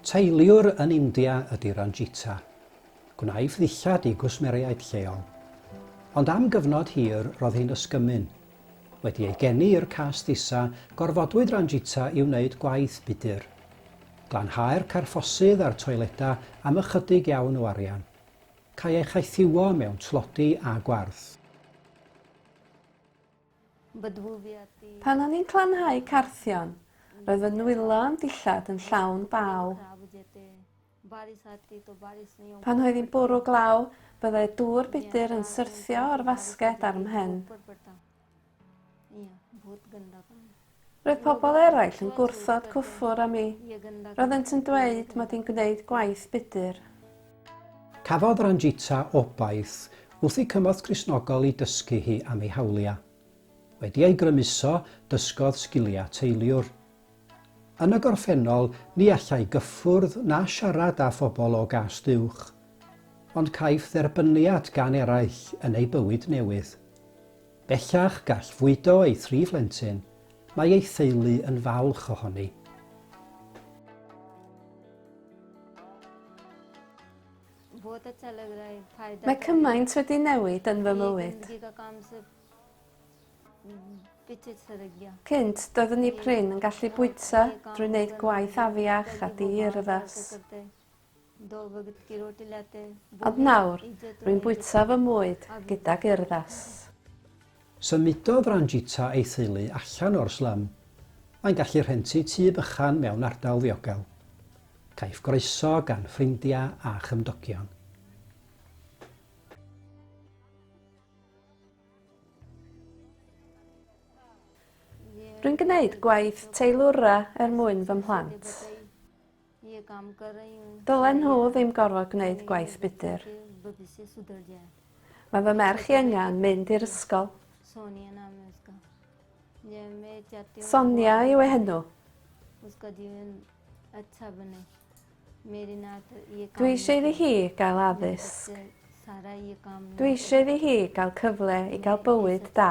Teiliwr yn India ydy Ranjita. Gwnaeth ddillad i gwsmeriaid lleol. Ond am gyfnod hir roedd hi'n ysgymyn. Wedi ei geni i'r cast isa, gorfodwyd Ranjita i wneud gwaith budr. Glanhau'r carffosydd a'r toiledau am ychydig iawn o arian. Cae ei chaethiwo mewn tlodi a gwarth. Pan o'n i'n clanhau carthion, roedd fy nwylo yn dillad yn llawn baw. Pan oedd hi'n bwrw glaw, byddai dŵr budr yn syrthio o'r fasged ar 'm mhen. Roedd pobl eraill yn gwrthod cyffwr â mi. Roeddent yn dweud mod i'n gwneud gwaith budr. Cafodd Ranjita obaith wrth i cymorth Gristnogol i dysgu hi am ei hawliau. Wedi ei grymuso, dysgodd sgiliau teiliwr. Yn y gorffennol, ni allai gyffwrdd na siarad â phobl o gast uwch. Ond caiff dderbyniad gan eraill yn ei bywyd newydd. Bellach gall fwydo ei thri phlentyn, mae ei theulu yn falch ohoni. Mae cymaint wedi newid yn fy mywyd. Cynt, doeddwn i prin yn gallu bwyta drwy wneud gwaith afiach a di-urddas. Ond nawr, rwy'n bwyta fy mwyd gydag urddas. Symudodd Ranjita a'i theulu allan o'r slum. Mae'n gallu rhentu tŷ bychan mewn ardal ddiogel. Caiff groeso gan ffrindiau a chymdogion. Rwy'n gwneud gwaith teilwra er mwyn fy mhlant. Dylen nhw ddim gorfod gwneud gwaith budr. Mae fy merch i yngan mynd i'r ysgol. Sonia yw ei henw. Dwi eisiau iddi hi gael addysg. Dwi eisiau iddi hi gael cyfle i gael bywyd da.